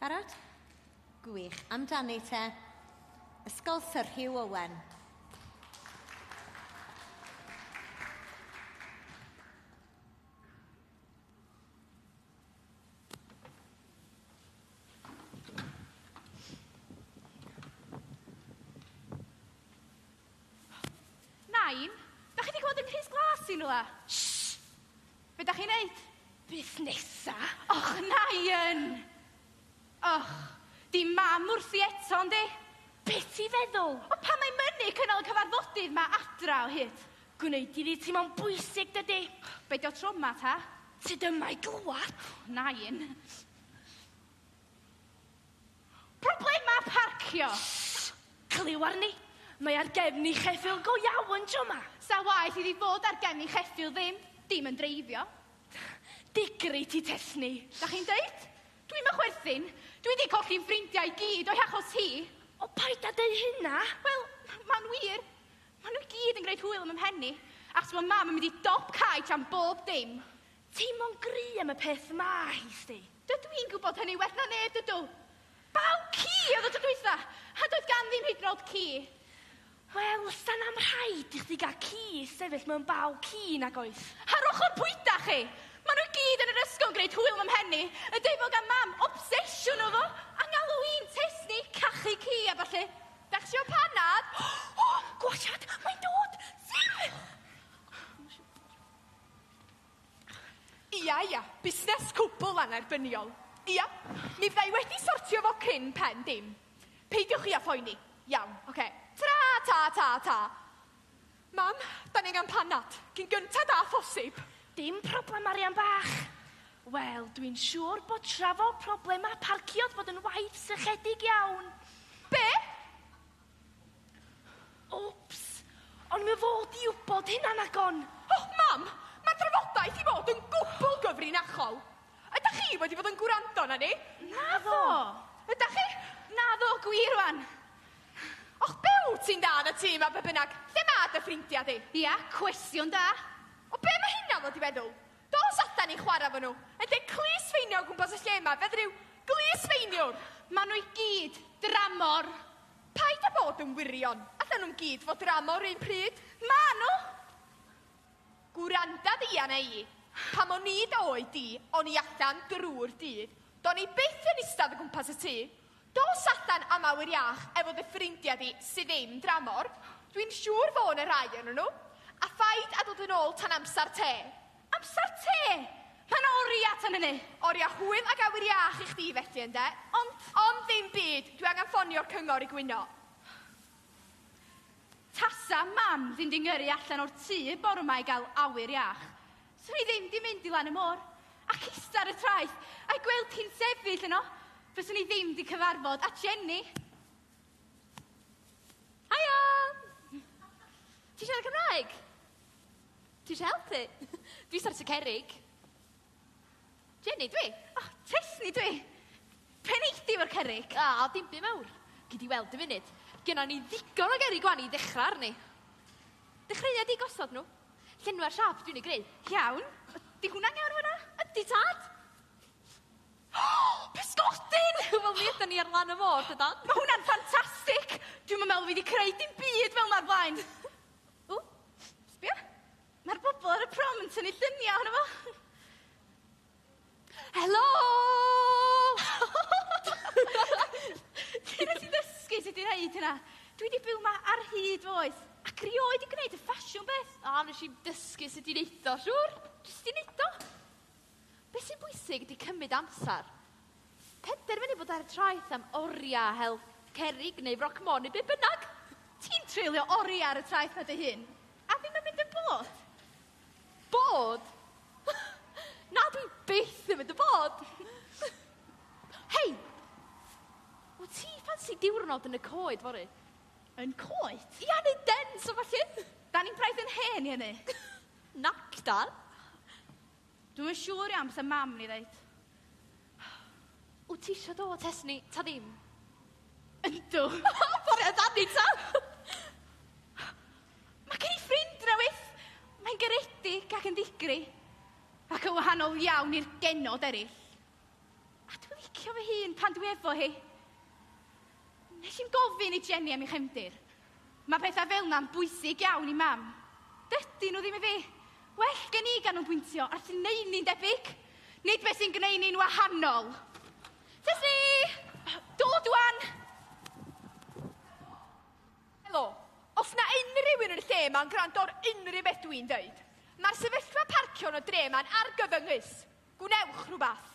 Barod? Gwych. Amdani te. Ysgol Sir Hugh Owen. Nain, da chi di gweld yng Nghrys Glas i rwla? Shh! Be da chi'n neud? Busnesa? Och, Nain! Och, di mam wrthi eto, yndi? Be ti feddwl? O pan mae mynu cynnal y cyfarfodydd ma adra o hyd. Gwneud iddi teimlo'n bwysig, dydi? Be di o tro yma, ta? Ti dyma i glwad? Nain. Problemau parcio! Shh! Clyw arni! Mae ar gefn i cheffyl go iawn tro ma! Sa waeth iddi fod ar gefn i cheffyl ddim! Dim yn dreifio! Digri ti Tesni! Da chi'n deud? Dwi'm yn chwerthin! Dwi 'di colli fy ffrindiau i gyd o'i hachos hi! O paid a deud hynna! Wel, ma'n wir! Ma' nhw i gyd yn gwneud hwyl yn fy mhen i! Achos ma' mam yn mynd i dop cae tan bob dim! Teimlo'n gry am y peth ma hi, sti. Dydw i'n gwybod hynny well na neb, dydw. Baw ci oedd y tro dwytha, a doedd gan ddim hyd yn oed ci. Wel, sa'n am rhaid i chdi gael ci i sefyll mewn baw ci, nag oes? Ar ochr pwyta chi! Maen nhw i gyd yn yr ysgol yn gwneud hwyl fy mhen i, y deufog a mam, obsesiwn o fo, a ngalw i'n tŷs ni, cachu ci a ballu. Dach chi isio panad? O! Gwashiad! Mae'n dod! Tim! Ia, ia, busnes cwbl annerbyniol. Ia, mi fydda i wedi sortio fo cyn pen dim. Peidiwch chi â phoeni. Iawn, ocê. Tara, ta, ta, ta. Mam, da ni angen panad, cyn gyntad â phosib. Dim problem, arian bach. Wel, dwi'n siŵr bod trafod problemau parcio'th fod yn waith sychedig iawn. Be? Wps! Ond mae fod i wybod hynna'n aggon! O, Mam! Mae'r drafodaeth i fod yn gwbl gyfrinachol! Ydach chi wedi bod yn gwrando arna ni? Naddo! Ydach chi? Naddo, gwir wan! Och, be wyt ti'n dda yn y tŷ yma, be bynnag? Lle mae dy ffrindiau di? Ia, cwestiwn da! O, be mae hynna fod i feddwl? Dos ata ni chwarae efo nhw. Yn lle clustfeinio o gwmpas y lle yma, fe ddryw glusfeiniwr! Maen nhw i gyd dramor. Paid a bod yn wirion. Allen nhw'm gyd fod dramor 'r un pryd. Maen nhw! Gwranda di arna i. Pan o'n i dy oed di, o'n i allan drw'r dydd. Do'n i byth yn istedd o gwmpas y tŷ. Dos allan am awyr iach efo dy ffrindia di sy ddim dramor, dwi'n siŵr fo na rhai onyn nhw, a phaid a dod yn ôl tan amsar te. Amsar te! Mae 'na oria tan hynny! Oria hwyl ag awyr iach i chdi felly ynde? Ond. Ond ddim byd, dwi angen ffonio'r cyngor i gwyno. Tasa mam fi'n 'di ngyrru allan o'r tŷ bore 'ma i gael awyr iach, Sw i ddim di mynd i lan y môr, ac ista ar y traeth, a'i gweld hi'n sefyll yno, fyswn i ddim di cyfarfod a Jenny. Haia! Ti siarad Cymraeg? Ti eisiau helpu? Dwi sar y cerig. Jenny, dwi. O, oh, Tesni, dwi. Pen eithdi o'r cerig. A, oh, dim byd mawr. Gyd i weld y funud. Gynna ni ddigon o gerig gwan i ddechrau arni. Dechreuad i gosod nhw. Llenwa'r siâp dwi'n ei greu. Iawn. Ydy hwnna'n iawn yn fanna? Ydy, Tad! Pysgodyn! Wel, mi ydan ni ar lan y môr, dydan? Mae hwnna'n ffantastig! Dwi'm yn meddwl fi wedi creu dim byd fel 'na o'r blaen. Ww, sbia. Mae'r bobl ar y prom yn tynnu lluniau ohono fo. Helo! Lle nes ti ddysgu sut i neud hynna? Dwi 'di byw 'ma ar hyd fy oes, ac rioed 'di gwneud y ffasiwn beth! O, nes i'm dysgu sut i neud o, siŵr! Jyst 'di neud o! Be' sy'n bwysig ydi cymryd amsar. Penderfynu bod ar y traeth am oria, hel cerrig neu froc môn neu be' bynnag! Ti'n treulio oria ar y traeth 'na dy hun, a ddim yn mynd yn bored? Bod? Na, dwi byth yn mynd y bod. Hei! O ti ffansi diwrnod yn y coed fory? Yn coed? Ia, neu dens o falle. Da ni'n braidd yn hen i hynny. Nac dan. Dwi'm yn siŵr iawn beth y mam ni ddeud. Wt ti isio dod hes ni, ta ddim? Yndw. O! Bore o dan ni ta! Mae gen i ffrind newydd! Mae'n garedig ac yn ddigri, ac yn wahanol iawn i'r genod eraill. A dwi'n licio fy hun pan dwi efo hi. Nes i'm gofyn i Jenny am ei chefndir. Mae pethau fel na'n bwysig iawn i mam. Dydy nhw ddim i fi. Well gen i ganolbwyntio ar sy'n neud ni'n debyg, nid beth sy'n gwneud ni'n wahanol. Tessie! Dod wan! Helo. Os na unrhyw un yn y lle ma'n gwrando ar unrhyw beth dwi'n dweud, mae'r sefyllfa parcio yn y dre ma'n argyfyngus. Gwnewch rhywbeth.